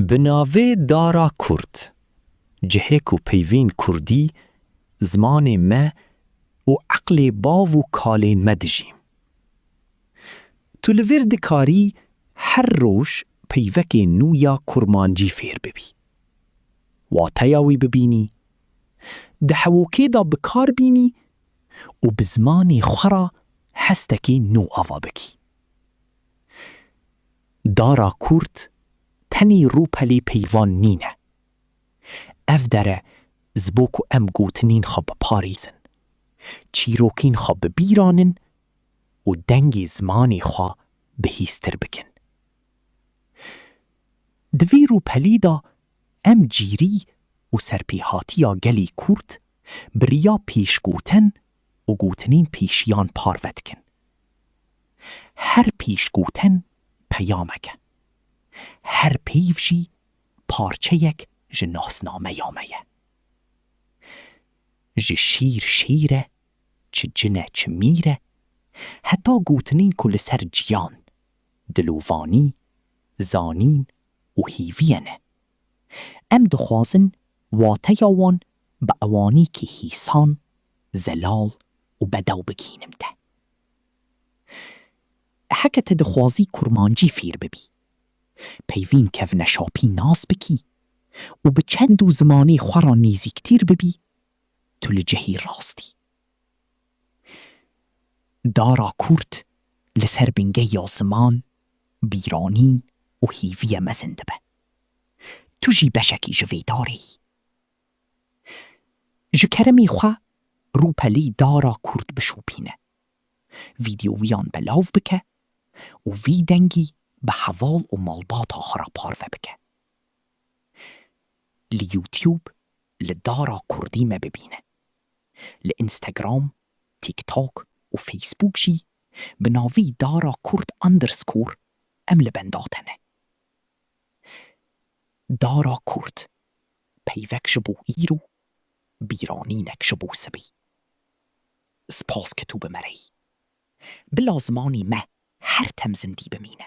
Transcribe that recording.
Bi navê Dara Kurd, cihê ku peyvên kurdî, zimanê me û eqlê bav û kalên me dijî. Tu li vir dikarî her roj peyvekê nû ya kurmancî fêr bibî, wateya wî bibînî, di hewokê de bi kar bînî û bi zimanê xwe re hestekî nû ava bikî. Dara kûrt tenê rûpelê peyvan nîne. Ev dere ji bo ku em gotinên xwe biparêzin, çîrokên xwe bibîranin û dengê zimanê xwe bihîztir bikin. Di vî rûpelê de em cîrî û serpêhatiya gelê kûrt bi riya pêşgotin û gotinên pêşiyan parve dikin. Her pêşgotin peyamek e. Her peyv jî parçeyek ji nasnameya me ye. Ji şîr şêr e, çi cin e çi mîr e, heta gotinên ku li ser ciyan, dilovanî, zanîn û hêviyê ne. Em dixwazin wateya wan bi ewanîkî hîsan, zelal û bedew bigihînim te. Heke te dixwazî kurmancî fêr bibî, peyvîn kevneşapî nas bikî û bi çend û zimanê xwe re nêzîktîr bibî, tu li cihê rast î. Dara kûrt li ser bingeya ziman, bîranîn û hêviyê mezin dibe. Tu jî beşekî ji vê darê yî. Ji keremê xwe rûpelê dara kûrt bişopîne. Vîdeoyan belav bike û vî dengî bi heval û malbata xwe re parve bike. Li YouTube li dara kurdî me bibîne. Li Instagram, TikTok û Facebook jî bi navî dara kurd underscore em li benda te ne. Dara kurd, peyvek ji bo îro, bîranînek ji bo sibî. Spas ke tu bi me re yî. Bila zimanî me her tem zindî bimîne.